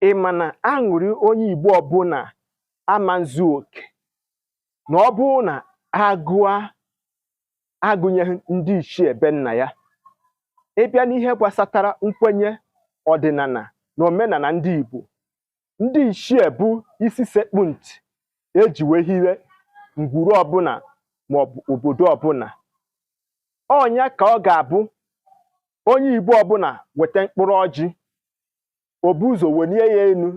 ị ma na aṅụrị onye Igbo ọbụla ama nzu oke na ọ bụrụ na agụa agụnyeghị ndị ichie be nna ya ịbịa n'ihe gbasatara nkwenye ọdịnala na omenala ndị Igbo ndị ichie bụ isi sekpu ntị eji wee hiwe ngwuru ọbụla maọbụ obodo ọbụla ọnya ka ọ ga-abụ onye igbo ọbụla weta mkpụrụ ọjị o bu ụzọ welie ya elu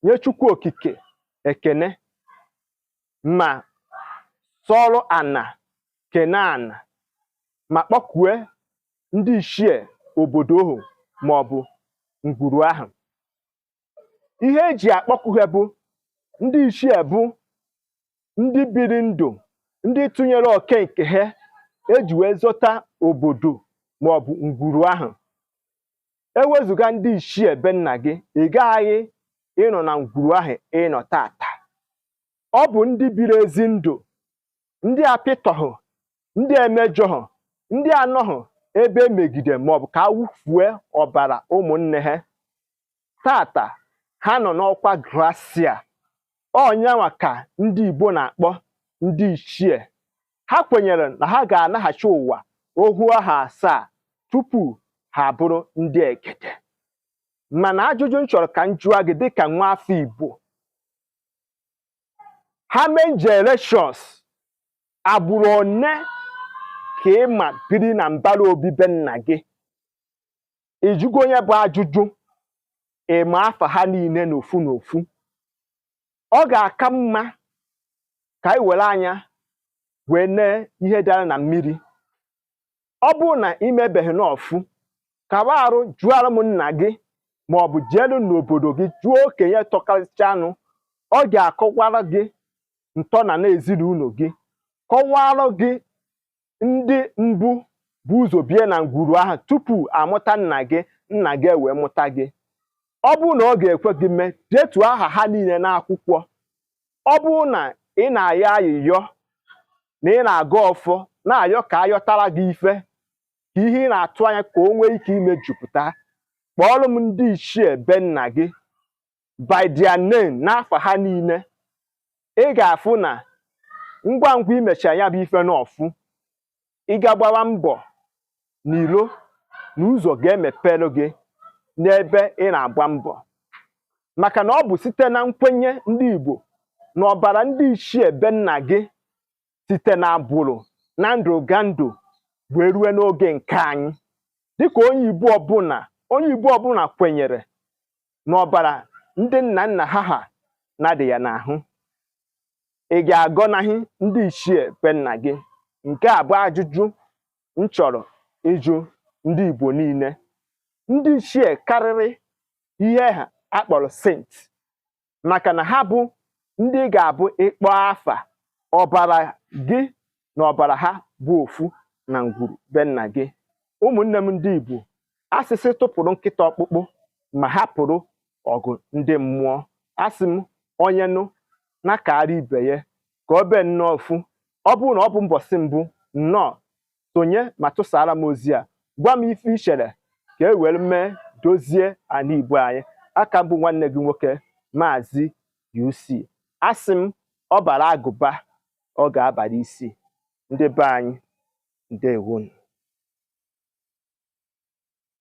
nye chukwu okike ekene ma sọrụ ana kene ana ma kpọkue ndị ichie obodo ahụ maọbụ ngwuru ahụ ihe eji akpọku ha bụ ndị ichie bụ ndị biri ndụ ndị tụnyere oke nke ha eji wee zọta obodo maọbụ ngwuru ahụ ewezuga ndị ichie be nna gị ị gaghị ịnọ na ngwuru ahụ ịnọ tata ọ bụ ndị biri ezi ndụ ndị apịtọhụ ndị emejọhụ ndị anọhụ ebe emegide maọbụ ka awụfue ọbara ụmụnne ha tata ha nọ n'ọkwa grasia ọnyanwa ka ndị Igbo na-akpọ ndị ichie ha kwenyere na ha ga-anaghachi ụwa ohu aha asaa tupu ha bụrụ ndị egede mana ajụjụ m chọrọ ka m jụọ gị dịka nwa afọ Igbo how many generations agbụrụ one ka ị ma biri na mbara obi be nna gị ịjụgo nya bụ ajụjụ ịma afa ha niile n'ofu n'ofu ọ ga-aka mma ka anyị were anya wee nee ihe dara na mmiri ọ bụrụ na ị mebeghị n'ọfụ kawa arụ jụọra m nna gị ma ọ bụ jeelu n'obodo gị jụọ okenye tọkarịchanụ ọ ga-akọwara gị ntọnana ezinụlọ gị kọwara gị ndị mbụ bu ụzọ bie na ngwuru ahụ tupu amụta nna gị nna gị ewee mụta gị ọ bụrụ na ọ ga-ekwe gị mee detuo aha ha niile n'akwụkwọ ọ bụrụ na ị na-ayọ ayịyọ na ị na-agọ ọfọ na-ayọ ka ayọtara gị ife ka ihe ị na-atụ anya ka o nwee ike imejupụta kpọọrọ m ndị ichie be nna gị by their name n'afa ha niile ị ga-afụ na ngwa ngwa imecha ya bụ ife n'ọfụ ị ga-agbawa mbọ n'ilo na ụzọ ga-emepere gị n'ebe ị na-agba mbọ maka na ọ bụ site na nkwenye ndị Igbo na ọbara ndị ichie be nna gị site na agbụrụ na ndụgandụ wee rue n'oge nke anyị dịka onye Igbo ọbụla onye Igbo ọbụla kwenyere na ọbara ndị nna nna ha ha na-adị ya n'ahụ ị ga-agọnaghị ndị ichie be nna gị nke a bụ ajụjụ m chọrọ ịjụ ndị Igbo niile ndị ichie karịrị ihe ha kpọrọ saint maka na ha bụ ndị ga-abụ ị kpọọ afa ọbara gị na ọbara ha bụ ofu na ngwuru be nna gị ụmụnne m ndị Igbo a sị sị tụpụrụ nkịta ọkpụkpụ ma hapụrụ ọgụ ndị mmụọ asị m onye nụ na kaara ibe ya ka ọ bee nnọọ ofu ọ bụrụ na ọ bụ mbọsị mbụ nnọọ sonye ma tụsaara m ozi a gwa m ife i chere ka e were mee dozie ala Igbo anyị a ka m bụ nwanne gị nwoke maazị UC asị m ọ baara agụba ọ ga-abara isi ndị be anyị ndewonu